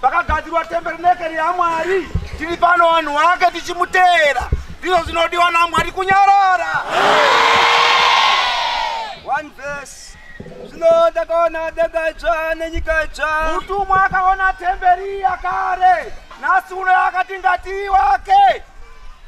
Pakagadzirwa temberinekeri yaMwari, tiri pano vanhu wake tichimuteera. Ndizvo zvinodiwa naMwari kunyarara. One verse. Zvino ndakaona denga idzva nenyika idzva. Mutumwa akaona temberi yakare, nhasi uno yakati ngati wake.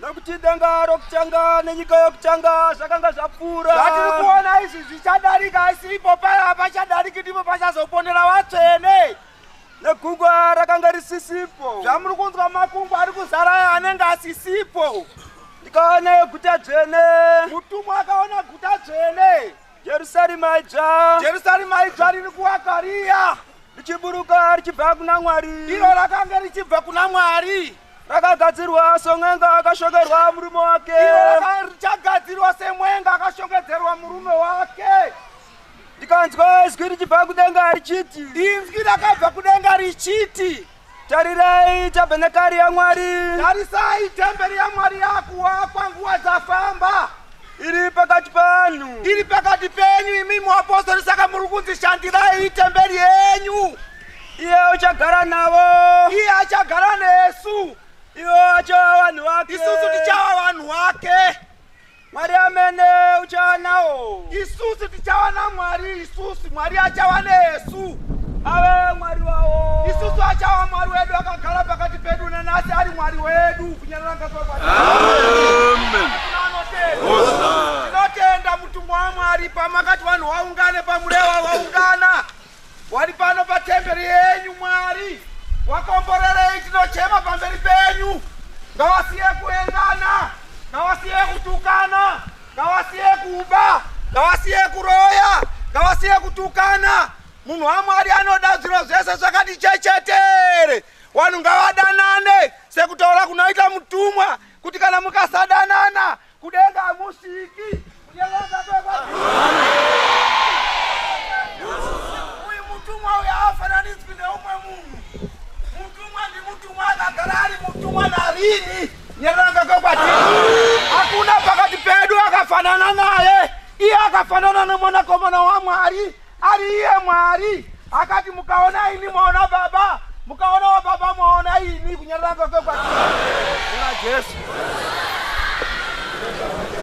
Nokuti denga rokutanga nenyika yokutanga zvakanga zvapfuura. Zvatiri kuona izvi zvichadarika, asi ipo paya pachadariki ndipo pachazoponera vatsvene. negungwa rakanga risisipo zvamuri kunzwa makungwa ari kuzara aya anenge asisipo ndikaona guta dzvene mutumwa akaona guta dzvene jerusarema idzva jerusarema idzva riri kuwaka riya richiburuka richibva kuna mwari iro rakanga richibva kuna mwari rakagadzirwa semwenga akashongerwa murume wake richagadzirwa semwenga akashongedzerwa murume wake ndikanzwa izwi richibva kudenga richiti inzwi rakabva kudenga richiti tarirai tabhenekari yamwari tarisai temberi yamwari yakuwakwa nguva dzafamba iri pakati panhu iri pakati penyu imi muapostori saka muri kunzi shandirai itemberi yenyu iye uchagara navo iye achagara nesu ivo achava vanhu vake isusu tichava vanhu wake Mwari amene uchava nawo. Isusu tichava naMwari isusu, Mwari achava nesu. Ave Mwari wawo. Isusu achava Mwari wedu akagara pakati pedu nanasi ari Mwari wedu kunyarara ngazwa kwati. Amen. Tinotenda mutumwa waMwari pamakati vanhu waungane pamurewa waungana. Wari pano patemberi yenyu Mwari wakomborerei tinochema pamberi penyu ngawasiye kuendana ngawasiye kutukana ngawasiye kuba ngawasiye kuroya ngawasiye kutukana munhu wamwari anoda zviro zvese zvakati chechetere vanhu ngavadanane sekutaura kunoita mutumwa kuti kana mukasadanana Kudenga hamusviki. Kunyevenga Uyu mutumwa uyu haafananidzwi neumwe munhu. Mutumwa ndimutumwa akagara ari mutumwa narini. Nyereranga kwekwati. Hakuna pakati pedu akafanana naye. Iye akafanana nemwanakomana waMwari. ari iye mwari akati mukaona ini mwaona baba mukaona wababa mwaona ini kunyarira kwake kwati kuna jesu